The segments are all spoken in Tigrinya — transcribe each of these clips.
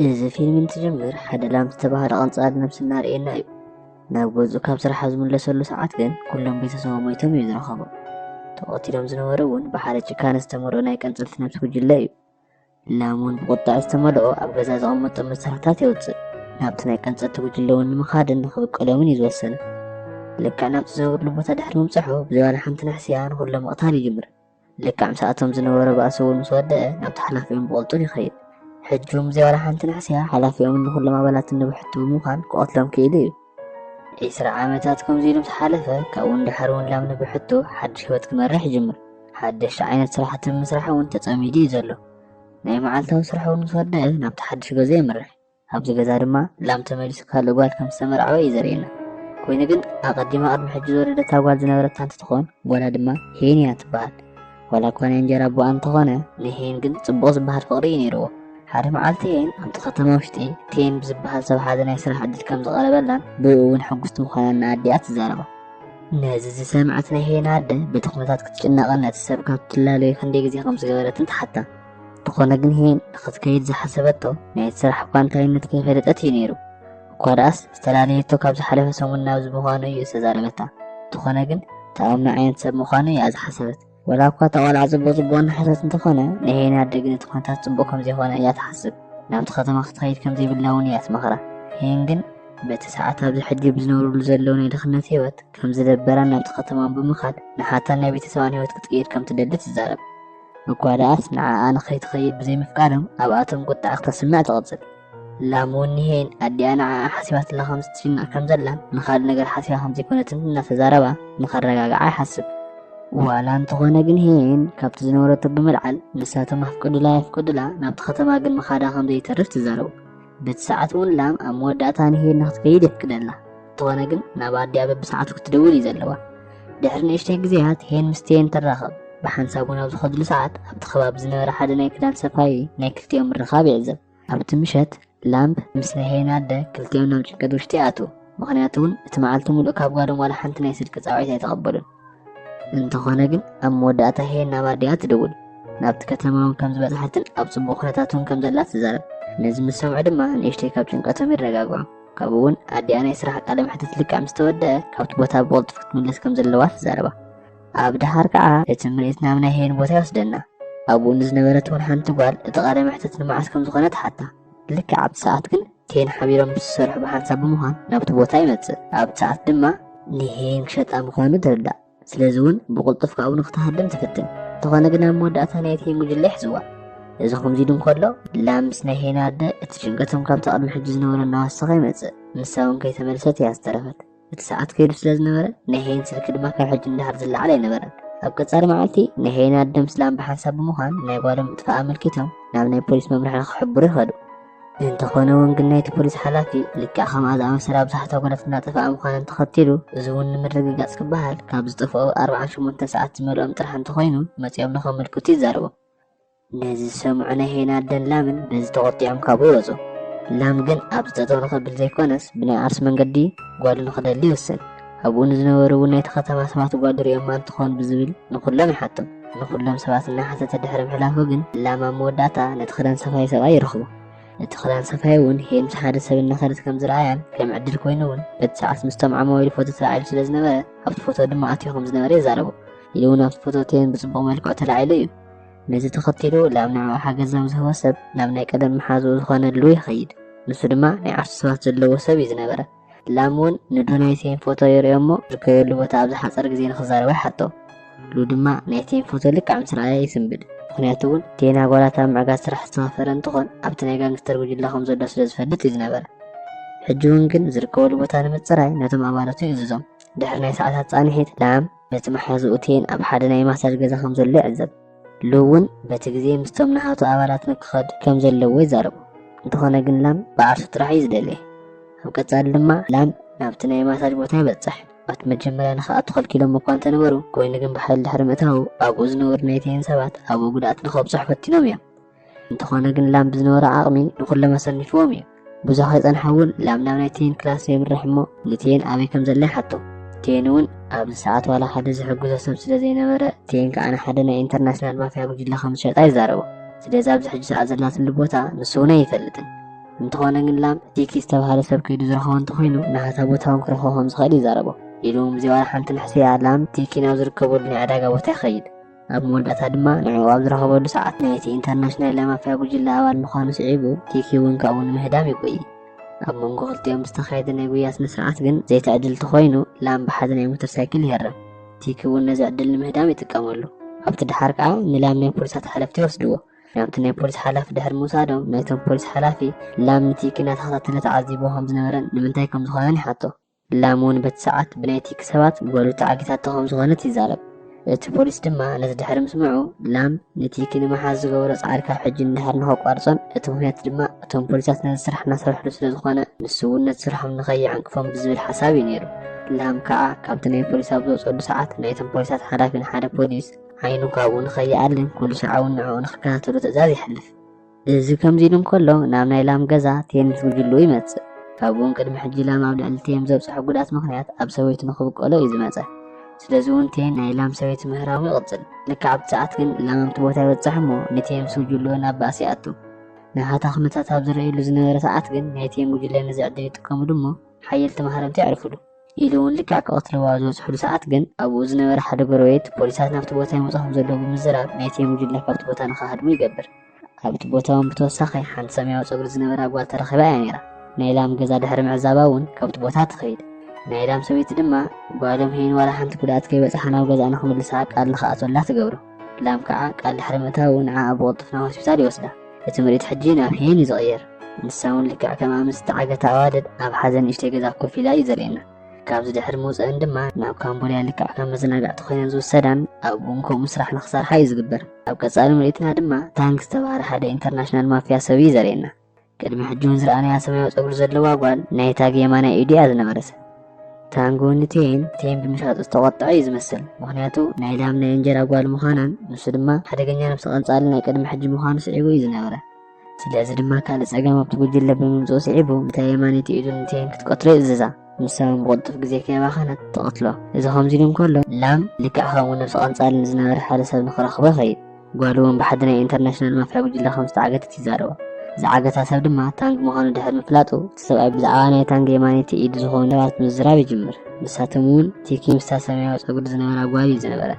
እዚ ፊልም እንትጅምር ሓደ ላም ዝተባህለ ቀንጻል ነብሲ እናርእየና እዩ። ናብ ገዝኡ ካብ ስራሕ ኣብ ዝምለሰሉ ሰዓት ግን ኩሎም ቤተሰቡ ሞይቶም እዩ ዝረኸቦም። ተቐቲሎም ዝነበሩ እውን ብሓደ ጭካነ ዝተመልኦ ናይ ቀንጸልቲ ነብሲ ጉጅለ እዩ። ላም እውን ብቁጥዐ ዝተመልኦ ኣብ ገዛ ዘቐመጦም መሳርሕታት የውጽእ። ናብቲ ናይ ቀንጸልቲ ጉጅለ እውን ንምኻድን ንኽብቀሎምን እዩ ዝወሰነ። ልክዕ ናብቲ ዝነብርሉ ቦታ ድሕሪ ምብጽሑ ብዘይ ዋላ ሓንቲ ንሕስያ ንኹሎም ምቕታል ይጅምር። ልክዕ ምስኣቶም ዝነበረ ባእሲ እውን ምስ ወደአ ናብቲ ሓላፊኦም ብቕልጡፍ ይኸይድ። ሕጂ እውን ብዘይ ዋላ ሓንቲ ናሕስያ ሓላፊኦምን ንኹሎም ኣባላትን ንብሕቲ ብምዃን ክቐትሎም ክኢሉ እዩ። ዒስራ ዓመታት ከምዚ ኢሉ ምስ ሓለፈ ካብኡ ንደሓር እውን ላም ንብሕቱ ሓድሽ ህይወት ክመርሕ ይጅምር። ሓደሽቲ ዓይነት ስራሕቲ ብምስራሕ እውን ተጸሚዱ እዩ ዘሎ። ናይ መዓልታዊ ስርሑ እውን ምስ ወደአ ናብቲ ሓድሽ ገዝኡ የምርሕ። ኣብዚ ገዛ ድማ ላም ተመሊሱ ካልእ ጓል ከም ዝተመርዓወ እዩ ዘርእየና። ኮይኑ ግን ኣቐዲማ ቅድሚ ሕጂ ዝወለደታ ጓል ዝነበረታ እንትትኾን ጓላ ድማ ሄን እያ ትበሃል። ዋላ እኳ ናይ እንጀራ ኣቦኣ እንተኾነ ንሄን ግን ጽቡቕ ዝበሃል ፍቕሪ እዩ ነይርዎ። ሓደ መዓልቲ ሄን ኣብቲ ከተማ ውሽጢ ቴን ብዝበሃል ሰብ ሓደ ናይ ስራሕ ዕድል ከም ዝቐረበላን ብእኡ እውን ሕጉስቲ ምዃናን ንኣዲኣ ትዛረባ። ነዚ ዝሰምዐት ናይ ሄን ኣደ በቲ ኩነታት ክትጭነቕን ነቲ ሰብ ካብ ትላለዮ ክንደይ ግዜ ከም ዝገበረትን ትሓታ። እንተኾነ ግን ሄን ንኽትከይድ ዝሓሰበቶ ናይ ስራሕ እኳ እንታይነት ከይፈለጠት እዩ ነይሩ እኳ ደኣስ ዝተላለየቶ ካብ ዝሓለፈ ሰሙን ናብዚ ምዃኑ እዩ ዝተዛረበታ እንተኾነ ግን ተኣምኖ ዓይነት ሰብ ምዃኑ እያ ዝሓሰበት ወላ እኳ እታ ቆልዓ ፅቡቅ ፅቡቅ እናሓሰበት እንተኾነ ናይ ሄን ኣደ ግን እቲ ኩነታት ፅቡቅ ከምዘይኮነ እያ ትሓስብ ናብቲ ከተማ ክትኸይድ ከምዘይብላ እውን እያ ትመኽራ ሄን ግን በቲ ሰዓት ኣብዚ ሕጂ ብዝነብርሉ ዘለዉ ናይ ድኽነት ህይወት ከም ዝደበራን ናብቲ ከተማን ብምኻድ ንሓታን ናይ ቤተሰባን ህይወት ክትቅይር ከም ትደሊ ትዛረብ እኳ ደኣስ ንዓኣ ንኸይትኸይድ ብዘይምፍቃዶም ኣብኣቶም ቁጥዐ ክተስምዕ ትቕጽል። ላም እውን ንሄን ኣዲኣ ንዓኣ ሓሲባትላ ከም ዝትሽናዕ ከም ዘላን ንኻልእ ነገር ሓሲባ ከም ዘይኮነትን እናተዛረባ ንኸረጋግዓ ይሓስብ። ዋላ እንተኾነ ግን ሄን ካብቲ ዝነበረቶ ብምልዓል ንሳቶም ኣፍቅዱላ ኣይፍቅዱላ ናብቲ ከተማ ግን ምኻዳ ከም ዘይተርፍ ትዛረቡ። በቲ ሰዓት እውን ላም ኣብ መወዳእታ ንሂር ንክትከይድ የፍቅደላ እንተኾነ ግን ናብ ኣዲያ በብሰዓቱ ክትደውል እዩ ዘለዋ ድሕሪ ንእሽተይ ግዜያት ሄን ምስ ቴን ትራኸብ ብሓንሳብ እውን ኣብ ዝኸድሉ ሰዓት ኣብቲ ከባቢ ዝነበረ ሓደ ናይ ክዳን ሰፋይ ናይ ክልቲኦም ምርኻብ ይዕዘብ ኣብቲ ምሸት ላምብ ምስ ናይ ሄን ኣደ ክልቲኦም ናብ ጭንቀት ውሽጢ ይኣትዉ ምክንያቱ እውን እቲ መዓልቲ ሙሉእ ካብ ጓዶም ዋላ ሓንቲ ናይ ስልኪ ፃውዒት ኣይተቐበሉን እንተኾነ ግን ኣብ መወዳእታ ሄና ባዲኣ ትደውል ናብቲ ከተማ እውን ከም ዝበፅሓትን ኣብ ፅቡቅ ኩነታት እውን ከም ዘላ ትዛረብ ነዚ ምስ ሰምዑ ድማ ንእሽተይ ካብ ጭንቀቶም ይረጋግዑ ካብኡ እውን ኣዲኣ ናይ ስራሕ ቃለ መሕትት ልክዕ ምስ ተወደአ ካብቲ ቦታ ብቕልጡፍ ክትምለስ ከም ዘለዋ ትዛረባ ኣብ ድሃር ከዓ እቲ ምርኢት ናብ ናይ ሄን ቦታ ይወስደና ኣብኡ ንዝነበረት እውን ሓንቲ ጓል እቲ ቃለ መሕትት ንመዓስ ከም ዝኾነ ትሓታ ልክዕ ኣብቲ ሰዓት ግን ቴን ሓቢሮም ምስ ዝሰርሑ ብሓንሳብ ብምዃን ናብቲ ቦታ ይመጽእ። ኣብ ሰዓት ድማ ንሄን ክሸጣ ምዃኑ ትርዳእ። ስለዚ እውን ብቕልጡፍ ካብኡ ንክትሃድም ትፍትን። እንተኾነ ግን ኣብ መወዳእታ ናይ ቴን ጉጅለ ይሕዝዋ። እዚ ከምዚ ኢሉ እንከሎ ላም ምስ ናይ ሄን ኣደ እቲ ጭንቀቶም ካብቲ ቅድሚ ሕጂ ዝነበሮ እናወሰኸ ይመጽእ። ንሳ እውን ከይተመልሰት እያ ዝተረፈት። እቲ ሰዓት ከይዱ ስለ ዝነበረ ናይ ሄይን ስልኪ ድማ ካብ ሕጂ ንደሓር ዝለዓል ኣይነበረን ኣብ ቀጻሊ መዓልቲ ናይ ሄይን ኣደም ስላም ብሓንሳብ ብምዃን ናይ ጓሎም ምጥፋእ ኣመልኪቶም ናብ ናይ ፖሊስ መምርሒ ንክሕብሩ ይኸዱ እንተኾነ እውን ግን ናይቲ ፖሊስ ሓላፊ ልክዕ ከምኣ ዝኣመሰለ ኣብዛሕታ ጓላት እናጠፍኣ ምዃነን ተኸቲሉ እዚ እውን ንምርግጋፅ ክበሃል ካብ ዝጠፍኦ ኣርብዓን ሸሞንተን ሰዓት ዝመልኦም ጥራሕ እንተኾይኑ መፂኦም ንኸመልክቱ ይዛረቦም ነዚ ዝሰምዑ ናይ ሄና ኣደን ላምን በዚ ተቖጢዖም ካብኡ ወጹ። ላም ግን ኣብዚ ጠጠው ንኸብል ዘይኮነስ ብናይ ዓርሱ መንገዲ ጓሉ ንኽደሊ ይውስን። ኣብኡ ንዝነበሩ እውን ናይቲ ከተማ ሰባት ጓሉ ሪኦማ እንትኾን ብዝብል ንኹሎም ይሓቶም። ንኹሎም ሰባት እናሓተተ ድሕሪ ምሕላፉ ግን ላም ኣብ መወዳእታ ነቲ ክዳን ሰፋይ ሰብኣይ ይረኽቦ። እቲ ክዳን ሰፋይ እውን ሄን ምስ ሓደ ሰብ እናኸደት ከም ዝረኣያን ከም ዕድል ኮይኑ እውን በቲ ሰዓት ምስቶም ዓማዊል ፎቶ ተላዒሉ ስለ ዝነበረ ኣብቲ ፎቶ ድማ ኣትዩ ከም ዝነበረ ይዛረቡ። ኢሉ እውን ኣብቲ ፎቶ ቴን ብጽቡቕ መልክዑ ተላዒሉ እዩ። ነዚ ተኸቲሉ ላብ ንዕኡ ሓገዛዊ ዝህቦ ሰብ ናብ ናይ ቀደም መሓዝኡ ዝኾነ ድሉ ይኸይድ። ንሱ ድማ ናይ ዓርሱ ሰባት ዘለዎ ሰብ እዩ ዝነበረ። ላም እውን ንዶናይ ሴን ፎቶ የርእዮ እሞ ዝርከበሉ ቦታ ኣብ ዝሓፀረ ግዜ ንክዛረቦ ይሓቶ። ድሉ ድማ ናይ ቴን ፎቶ ልክዕ ምስ ረኣየ ይስንብድ። ምክንያቱ እውን ቴን ኣጓላት ኣብ ምዕጋት ስራሕ ዝተኸፈረ እንትኾን ኣብቲ ናይ ጋንግስተር ጉጅለ ከም ዘሎ ስለ ዝፈልጥ እዩ ዝነበረ። ሕጂ እውን ግን ዝርከበሉ ቦታ ንምፅራይ ነቶም ኣባላቱ ይእዝዞም። ድሕሪ ናይ ሰዓታት ፃንሒት ላም ነቲ መሓዝኡ ቴን ኣብ ሓደ ናይ ማሳጅ ገዛ ከም ዘሎ ይዕዘብ። ሉ እውን በቲ ግዜ ምስቶም ንኣቶ ኣባላት ንክኸድ ከም ዘለዎ ይዛረቡ። እንተኾነ ግን ላም ብዓርሱ ጥራሕ እዩ ዝደልየ። ኣብ ቀጻሊ ድማ ላም ናብቲ ናይ ማሳጅ ቦታ ይበጽሕ። ኣቲ መጀመርያ ንክኣቱ ከልኪሎም እኳ እንተነበሩ፣ ኮይኑ ግን ብሓይሊ ድሕሪ ምእታዉ ኣብኡ ዝነበሩ ናይ ቴን ሰባት ኣብኡ ጉድኣት ንከብጽሑ ፈቲኖም እዮም። እንተኾነ ግን ላም ብዝነበሮ ዓቕሚ ንኹሎም ኣሰኒፍዎም እዩ ብዙሕ ከይጸንሐ እውን ላም ናብ ናይ ቴን ክላስ የምርሕ እሞ ንቴን ኣበይ ከም ዘለ ይሓቶ ቴን እውን ኣብዚ ሰዓት ዋላ ሓደ ዝሕግዞ ሰብ ስለ ዘይነበረ ቴን ከዓ ንሓደ ናይ ኢንተርናሽናል ማፍያ ጉጅለ ከም ዝሸጣ ይዛረቦ ስለዚ ኣብዚ ሕጂ ሰዓት ዘላትሉ ቦታ ንሱ እውን ኣይፈልጥን እንተኾነ ግን ላም ዲኪ ዝተባሃለ ሰብ ከይዱ ዝረኸቦ እንተኮይኑ ንሓታ ቦታ እውን ክረኽቦ ከም ዝኽእል ይዛረቦ ኢሉ እውን ብዘይ ዋላ ሓንቲ ንሕስያ ላም ቲኪ ናብ ዝርከበሉ ናይ ዕዳጋ ቦታ ይኸይድ ኣብ መወዳእታ ድማ ንዕኡ ኣብ ዝረኸበሉ ሰዓት ናይቲ ኢንተርናሽናል ናይ ማፍያ ጉጅለ ኣባል ምዃኑ ስዒቡ ቲኪ እውን ካብኡ ንምህዳም ይጎይ ኣብ መንጎ ክልቲኦም ዝተኻየደ ናይ ጉያ ስነ ስርዓት ግን ዘይተዕድልቲ ኮይኑ ላም ብሓደ ናይ ሞተር ሳይክል ይህረም ቲኪ እውን ነዚ ዕድል ንምህዳም ይጥቀመሉ ኣብቲ ድሓር ከዓ ንላም ናይ ፖሊሳት ሓለፍቲ ይወስድዎ ናብቲ ናይ ፖሊስ ሓላፊ ድሕሪ ምውሳዶም ናይቶም ፖሊስ ሓላፊ ላም ንቲኪ እናተኸታተለ ተዓዚቦ ከም ዝነበረን ንምንታይ ከም ዝኾነን ይሓቶ ላም እውን በቲ ሰዓት ብናይ ቲክ ሰባት ጓሉ ተዓጊታቶ ከም ዝኾነት ይዛረብ። እቲ ፖሊስ ድማ ነዚ ድሕሪ ምስምዑ ላም ንቲኪ ንምሓዝ ዝገበሮ ጻዕሪ ካብ ሕጂ ንድሓር ንኸቋርጾን እቲ ምኽንያት ድማ እቶም ፖሊሳት ነዚ ስራሕ እናሰርሕሉ ስለ ዝኾነ ንሱ እውን ነቲ ስርሖም ንኸይዕንቅፎም ብዝብል ሓሳብ እዩ ነይሩ። ላም ከዓ ካብቲ ናይ ፖሊስ ኣብ ዝወጸሉ ሰዓት ናይቶም ፖሊሳት ሓላፊ ንሓደ ፖሊስ ዓይኑ ካብኡ ንኸይኣልን ኩሉ ስርዓውን ንዕኡ ንኽከታተሎ ትእዛዝ የሕልፍ። እዚ ከምዚ ኢሉ እንከሎ ናብ ናይ ላም ገዛ ቴም ዝጉጅሉ ይመጽእ። ካብኡውን ቅድሚ ሕጂ ላም ኣብ ልዕሊ ቴም ዘብጽሖ ጉድኣት ምኽንያት ኣብ ሰበይቱ ንኽብቀሎ እዩ ዝመጸ። ስለዚ እውን ቴም ናይ ላም ሰበይቲ ምህራሙ ይቕጽል። ልክዕ ኣብቲ ሰዓት ግን ላም ኣብቲ ቦታ ይበጽሕ እሞ ንቴም ስጉጅሎ ናብ ባእሲ ይኣቱ። ናይ ሃታ ኩነታት ኣብ ዝረእዩሉ ዝነበረ ሰዓት ግን ናይ ቴም ጉጅለ ነዚ ዕድል ይጥቀሙሉ እሞ ሓየልቲ ማህረምቲ የዕርፉሉ። ኢሉ እውን ልክዕ ክቐትልዋ ኣብ ዝበፅሕሉ ሰዓት ግን ኣብኡ ዝነበረ ሓደ ጎረቤት ፖሊሳት ናብቲ ቦታ ይመፁ ከምዘለዉ ብምዝራብ ናይቲ ጉጅለ ካብቲ ቦታ ንክሃድሙ ይገብር። ኣብቲ ቦታ እውን ብተወሳኺ ሓንቲ ሰማያዊ ፀጉሪ ዝነበራ ጓል ተረኺባ እያ ነይራ። ናይ ላም ገዛ ድሕሪ ምዕዛባ እውን ካብቲ ቦታ ትኸይድ። ናይ ላም ሰበይቲ ድማ ጓሎም ሄይን ዋላ ሓንቲ ጉድኣት ከይበፅሓ ናብ ገዝኣ ንክምልሳ ቃል ንክኣትወላ ትገብሮ። ላም ከዓ ቃል ድሕሪ ምእታዉ ንዓኣ ብቕልጡፍ ናብ ሆስፒታል ይወስዳ። እቲ ምርኢት ሕጂ ናብ ሄን እዩ ዝቕየር። ንሳ እውን ልክዕ ከምኣ ምስ ዝተዓገታ ኣዋልድ ኣብ ሓዘን ንእሽተይ ገዛ ኮፍ ኢላ እዩ ዘርእየና። ካብዚ ድሕሪ ምውፀኣን ድማ ናብ ካምቦድያ ልክዕ ከም መዘናጋዕቲ ኮይነን ዝውሰዳን ኣብኡ እውን ከምኡ ስራሕ ንክሰርሓ እዩ ዝግበር። ኣብ ቀፃሊ ምርኢትና ድማ ታንክ ዝተብሃለ ሓደ ኢንተርናሽናል ማፍያ ሰብ እዩ ዘርእየና። ቅድሚ ሕጂ እውን ዝረኣናያ ሰማያዊ ጸጉሪ ዘለዋ ጓል ናይ ታግ የማናይ ኢዱ እያ ዝነበረት። ታንጎ ንቴን ቴን ብምሻጥ ዝተቖጥዐ እዩ ዝመስል ምክንያቱ ናይ ላም ናይ እንጀራ ጓል ምዃናን ንሱ ድማ ሓደገኛ ነብሲ ቀንጻሊ ናይ ቅድሚ ሕጂ ምዃኑ ስዒቡ እዩ ዝነበረ ስለዚ ድማ ካልእ ጸገም ኣብቲ ጉጅለ ብምምጽኡ ስዒቡ እታ የማነይቲ ኢዱ ንቴን ክትቀትሎ ይእዝዛ ንሳ እውን ብቕልጡፍ ግዜ ከይባኸነት ትቐትሎ እዚ ከምዚ ኢሉ እንከሎ ላም ልክዕ ከምኡ ነብሲ ቀንጻሊ ንዝነበረ ሓደ ሰብ ንክረኽቦ ይኸይድ ጓሉ እውን ብሓዲ ናይ ኢንተርናሽናል ማፍያ ጉጅለ ከም ዝተዓገተት ይዛረቡ። ዝዓገታ ሰብ ድማ ታንግ ምዃኑ ድሕሪ ምፍላጡ፣ እቲ ሰብኣይ ብዛዕባ ናይ ታንግ የማነይቲ ኢድ ዝኾኑ ሰባት ምዝራብ ይጅምር። ንሳቶም እውን ቲኪ ምስታ ሰማያዊ ጸጉሪ ዝነበራ ጓል እዩ ዝነበረ።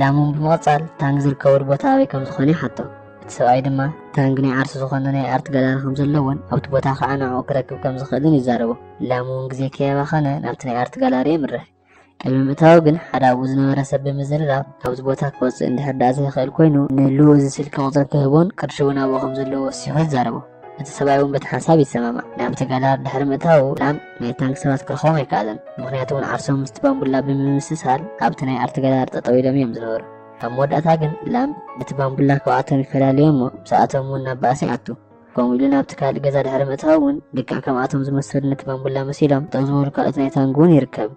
ላም እውን ብምቕጻል ታንግ ዝርከበሉ ቦታ ኣበይ ከም ዝኾነ ይሓቶ። እቲ ሰብኣይ ድማ ታንግ ናይ ዓርሱ ዝኾነ ናይ ኣርት ጋላሪ ከም ዘለዎን ኣብቲ ቦታ ከኣ ንዕኡ ክረክብ ከም ዝኽእልን ይዛረቦ። ላም እውን ግዜ ከየባኸነ ናብቲ ናይ ኣርት ጋላሪ የምርሕ። ቅድሚ ምእታዉ ግን ሓደ ኣብኡ ዝነበረ ሰብ ብምዝርራብ ካብዚ ቦታ ክወፅእ እንድሕር ደኣ ዘይኽእል ኮይኑ ንሉ እዚ ስልኪ ቁፅሪ ክህቦን ቅርሺ እውን ኣብኡ ከም ዘለዎ ወሲኹ ይዛረቦ እቲ ሰብኣይ እውን በቲ ሓሳብ ይሰማማዕ ናብቲ ጋላር ድሕሪ ምእታዉ ላም ናይ ታንክ ሰባት ክረኽቦም ኣይከኣለን ምክንያቱ እውን ዓርሶም ምስቲ ባምቡላ ብምምስሳል ኣብቲ ናይ ኣርቲ ጋላር ጠጠው ኢሎም እዮም ዝነበሩ ኣብ መወዳእታ ግን ላም በቲ ባምቡላ ካብኣቶም ይፈላለዮ እሞ ምስኣቶም እውን ናብ ባእሲ ይኣቱ ከምኡ ኢሉ ናብቲ ካልእ ገዛ ድሕሪ ምእታው እውን ልክዕ ከምኣቶም ዝመሰሉ ነቲ ባምቡላ መሲሎም ጠው ዝበሉ ካልኦት ናይ ታንግ እውን ይርከብ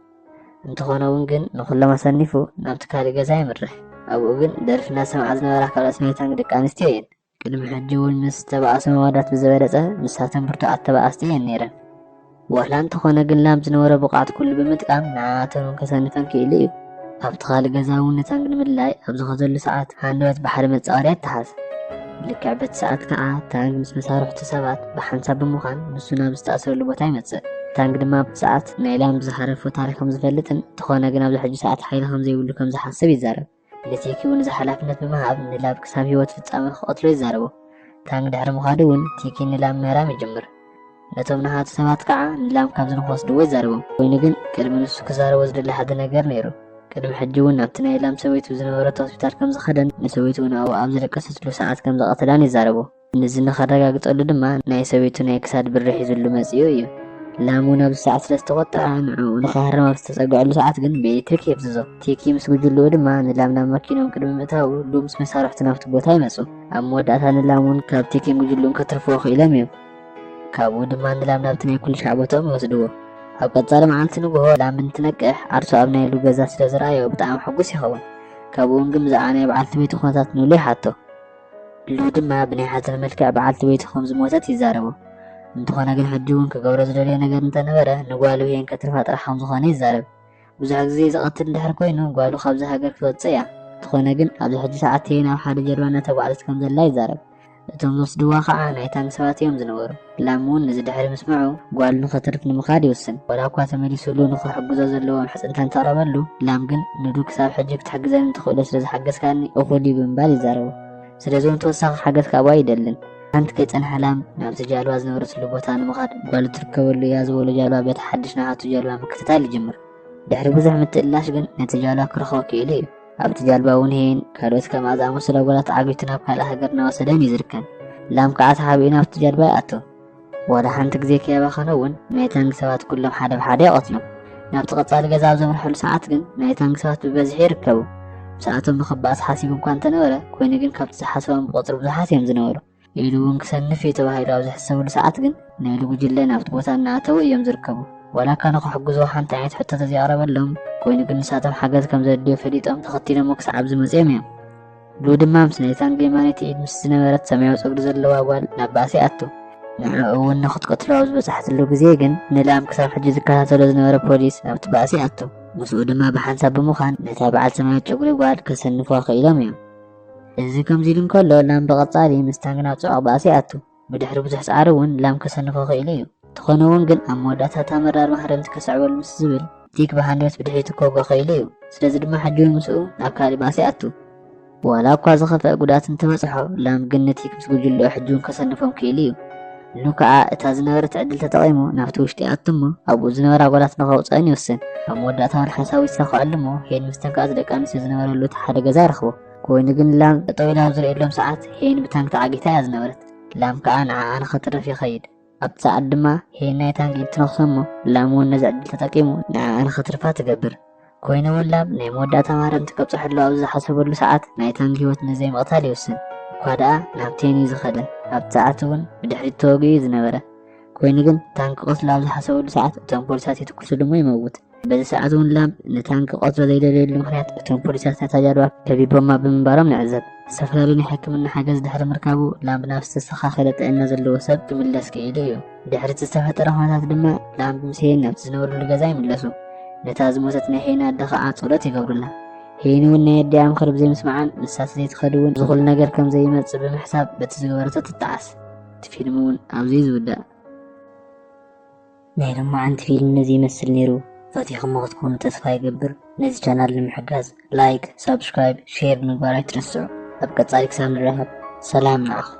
እንተኾነ እውን ግን ንኹሎም ኣሰኒፉ ናብቲ ካልእ ገዛ የምርሕ ኣብኡ ግን ደርፊ እናሰምዓ ዝነበራ ካልኦት ናይ ታንግ ደቂ ኣንስትዮ እየን ቅድሚ ሕጂ እውን ምስ ተባእሶ መዋዳት ብዝበለፀ ንሳተን ብርቱዓት ተባኣስቲ እየን ነይረን ዋላ እንተኾነ ግን ላም ዝነበሮ ብቕዓት ኩሉ ብምጥቃም ንዓኣቶም ከሰንፈን ክኢሉ እዩ። ኣብቲ ካልእ ገዛ እውን ንታንክ ንምድላይ ኣብ ዝኸዘሉ ሰዓት ሃንደበት ባሕሪ መጻወድያ ተሓዝ። ልክዕ በቲ ሰዓት ከኣ ታንክ ምስ መሳርሕቱ ሰባት ብሓንሳብ ብምዃን ንሱ ናብ ዝተኣስረሉ ቦታ ይመጽእ። ታንክ ድማ ኣብቲ ሰዓት ናይ ላም ዝሃረፎ ታሪኽ ከም ዝፈልጥን እንተኾነ ግን ኣብዚ ሕጂ ሰዓት ሓይሊ ከም ዘይብሉ ከም ዝሓስብ ይዛረብ። ንሴኪ እውን እዚ ሓላፍነት ብምሃብ ንላብ ክሳብ ህይወት ፍጻመ ክቐትሎ ይዛረቦ። ታንግ ድሕሪ ምኻዱ እውን ቲኪ ንላም ምህራም ይጅምር። ነቶም ነሃቱ ሰባት ከዓ ንላም ካብዚ ንክወስድዎ ይዛረቦም። ኮይኑ ግን ቅድሚ ንሱ ክዛረቦ ዝደሊ ሓደ ነገር ነይሩ። ቅድሚ ሕጂ እውን ናብቲ ናይ ላም ሰበይቱ ዝነበረቶ ሆስፒታል ከምዝኸደን ንሰበይቱ እውን ኣብኡ ኣብ ዝደቀሰትሉ ሰዓት ከምዝቐተላን ይዛረቦ። ንዚ ንኸረጋግጸሉ ድማ ናይ ሰበይቱ ናይ ክሳድ ብሪ ሒዙሉ መጺኡ እዩ። ላሙ ናብዚ ሰዓት ስለ ዝተቖጥዐ ንዕኡ ንኽሃርም ኣብ ዝተጸግዐሉ ሰዓት ግን ብኤሌክትሪክ የፍዝዞ። ቲኪ ምስ ጉጅልኡ ድማ ንላም ናብ መኪንኦም ቅድሚ ምእታዉ ሉም ምስ መሳርሕቱ ናብቲ ቦታ ይመጹ። ኣብ መወዳእታ ንላም እውን ካብ ቲኪን ጉጅልኡን ከትርፍዎ ክኢሎም እዮም። ካብኡ ድማ ንላም ናብቲ ናይ ኩልሻዕ ቦትኦም ይወስድዎ። ኣብ ቀጻሊ መዓልቲ ንግሆ ላም እንትነቅሕ ዓርሱ ኣብ ናይ ሉ ገዛ ስለ ዝረኣዮ ብጣዕሚ ሕጉስ ይኸውን። ካብኡ እውን ግን ብዛዕባ ናይ በዓልቲ ቤቱ ኩነታት ንሉ ይሓቶ። ኢሉ ድማ ብናይ ሓዘን መልክዕ በዓልቲ ቤቱ ከም ዝሞተት ይዛረቡ። እንተኾነ ግን ሕጂ እውን ክገብሮ ዝደልዮ ነገር እንተነበረ ንጓሉ ሄን ከትርፋ ጥራሕ ከም ዝኾነ ይዛረብ። ብዙሕ ግዜ ዝቐትል እንድሕር ኮይኑ ጓሉ ካብዚ ሃገር ክትወጽእ እያ። እንተኾነ ግን ኣብዚ ሕጂ ሰዓት ሄን ኣብ ሓደ ጀልባ እናተጓዕዘት ከም ዘላ ይዛረብ። እቶም ዝወስድዋ ከዓ ናይታንግ ሰባት እዮም ዝነበሩ። ላም እውን እዚ ድሕሪ ምስምዑ ጓሉ ንኸትርፍ ንምኻድ ይውስን። ወላ እኳ ተመሊሱሉ ንኽሕግዞ ዘለዎ ምሕጽንታ እንተቕረበሉ፣ ላም ግን ንዱ ክሳብ ሕጂ ክትሕግዘኒ እትኽእሎ ስለ ዝሓገዝካኒ እኹል እዩ ብምባል ይዛረቦ። ስለዚ እውን ተወሳኺ ሓገዝ ካብኡ ኣይደልን። ሓንቲ ከይጸንሐ ላም ናብቲ ጃልባ ዝነበረትሉ ቦታ ንምኻድ ጓሉ እትርከበሉ እያ ዝበሎ ጃልባ ቤት ሓድሽ ንዓቱ ጃልባ ምክትታል ይጅምር። ድሕሪ ብዙሕ ምትእልላሽ ግን ነቲ ጃልባ ክረኽቦ ክኢሉ እዩ። ኣብቲ ጃልባ እውን ሄን ካልኦት ከምኣ ዝኣመሰሉ ኣጓላት ዓቢቱ ናብ ካልእ ሃገር እናወሰደን እዩ ዝርከብ ላም ከዓ ተሓቢኡ ናብቲ ጃልባ ይኣቶ ዋላ ሓንቲ ግዜ ከየባኸነ እውን ናይ ታንግ ሰባት ኩሎም ሓደ ብሓደ ይቐትሎም ናብቲ ቀጻሊ ገዛ ኣብ ዘምርሐሉ ሰዓት ግን ናይ ታንግ ሰባት ብበዝሒ ይርከቡ ምስኣቶም ንክበኣስ ሓሲቡ እኳ እንተነበረ ኮይኑ ግን ካብቲ ዝሓሰቦም ብቐፅሪ ብዙሓት እዮም ዝነበሩ ኢሉ እውን ክሰንፍ እዩ ተባሂሉ ኣብ ዝሕሰበሉ ሰዓት ግን ናይሉ ጉጅለ ናብቲ ቦታ እናኣተወ እዮም ዝርከቡ። ዋላ እካ ንክሕግዙ ሓንቲ ዓይነት ሕቶ ተዘይቕረበሎም ኮይኑ ግን ንሳቶም ሓገዝ ከም ዘድልዮ ፈሊጦም ተኸቲሎሞ ክሳዕብ ዝመፅኦም እዮም። ሉ ድማ ምስ ናይ ታንግ የማነይቲ ኢድ ምስ ዝነበረት ሰማያዊ ፀጉሪ ዘለዋ ጓል ናብ ባእሲ ኣቱ። ንዕኡ እውን ንክትቀትሎ ኣብ ዝበፅሐትሉ ግዜ ግን ንላም ክሳብ ሕጂ ዝከታተሎ ዝነበረ ፖሊስ ኣብቲ ባእሲ ኣቱ። ምስኡ ድማ ብሓንሳብ ብምዃን ነታ በዓል ሰማያዊ ጨጉሪ ጓል ከሰንፉዋ ክኢሎም እዮም። እዚ ከምዚ ኢሉ እንከሎ ላም ብቐጻሊ ምስ ታንግና ጽዑቕ ባእሲ ይኣቱ። ብድሕሪ ብዙሕ ጻዕሪ እውን ላም ከሰንፎ ክኢሉ እዩ። እንተኾነ እውን ግን ኣብ መወዳእታ እታ መራር ማህረምቲ ከስዕበሉ ምስ ዝብል ዲክ ብሃንደበት ብድሕሪቱ ከውግዕ ክኢሉ እዩ። ስለዚ ድማ ሕጂ እውን ምስኡ ናብ ካልእ ባእሲ ይኣቱ። ዋላ እኳ ዝኸፍኣ ጉድኣት እንተበጽሖ ላም ግን ንቲክ ምስ ጉጅልኡ ሕጂ እውን ከሰንፎም ክኢሉ እዩ። ን ከኣ እታ ዝነበረት ዕድል ተጠቒሙ ናብቲ ውሽጢ ይኣቱ እሞ ኣብኡ ዝነበራ ጓላት ንኸውጽኣን ይውስን። ኣብ መወዳእታ እውን ሓንሳብ ይሳኸዐሉ እሞ ሄን ምስ ተንከኣት ደቂ ኣንስትዮ ዝነበረሉ እቲ ሓደ ገዛ ይረኽቦ። ኮይኑ ግን ላም ጠጠው ኢላ ኣብ ዝርእየሎም ሰዓት ሄን ብታንግ ተዓጊታ እያ ዝነበረት። ላም ከኣ ንዓኣ ንኸትርፍ ይኸይድ። ኣብቲ ሰዓት ድማ ሄን ናይ ታንግ ኢድ ትነኽሶ እሞ ላም እውን ነዚ ዕድል ተጠቂሙ ንዓኣ ንኸትርፋ ትገብር። ኮይኑ እውን ላብ ናይ መወዳእታ ማርያምቲ ከብጽሐሉ ኣብ ዝሓሰበሉ ሰዓት ናይ ታንግ ህይወት ንዘይምቕታል ይውስን እኳ ደኣ ናብ ቴን እዩ ዝኸደ ኣብቲ ሰዓት እውን ብድሕሪት ተወግኡ ዝነበረ ኮይኑ ግን ታንክ ቆስሉ ኣብ ዝሓሰበሉ ሰዓት እቶም ፖሊሳት ይትኩስሉ እሞ ይመውት በዚ ሰዓት እውን ላብ ንታንክ ቆስሎ ዘይደልየሉ ምክንያት እቶም ፖሊሳት ነታ ጃልባ ከቢቦማ ብምንባሮም ንዕዘብ ዝተፈላለዩ ናይ ሕክምና ሓገዝ ድሕሪ ምርካቡ ላብ ናብ ዝተስተኻኸለ ጥዕና ዘለዎ ሰብ ክምለስ ክኢሉ እዩ ድሕሪ እቲ ዝተፈጠረ ኩነታት ድማ ላምብ ምስ ሄን ናብቲ ዝነበሩሉ ገዛ ይምለሱ ነታ ዝሞተት ናይ ሄን ኣደ ከዓ ጸሎት ይገብሩላ ሄን እውን ናይ ኣዲኣ ምኽሪ ብዘይምስማዓን ንሳት ዘይትኸድ እውን ዝኹሉ ነገር ከም ዘይመፅእ ብምሕሳብ በቲ ዝገበረቶ ትጠዓስ እቲ ፊልም እውን ኣብዚ ዝውዳእ ናይ ሎማዓንቲ ፊልም ነዚ ይመስል ነይሩ ፈቲኹሞ ክትኮኑ ተስፋ ይገብር ነዚ ቻናል ንምሕጋዝ ላይክ ሳብስክራይብ ሼር ምግባር ኣይትረስዑ ኣብ ቀጻሊ ክሳብ ንራኸብ ሰላም ንዓኹም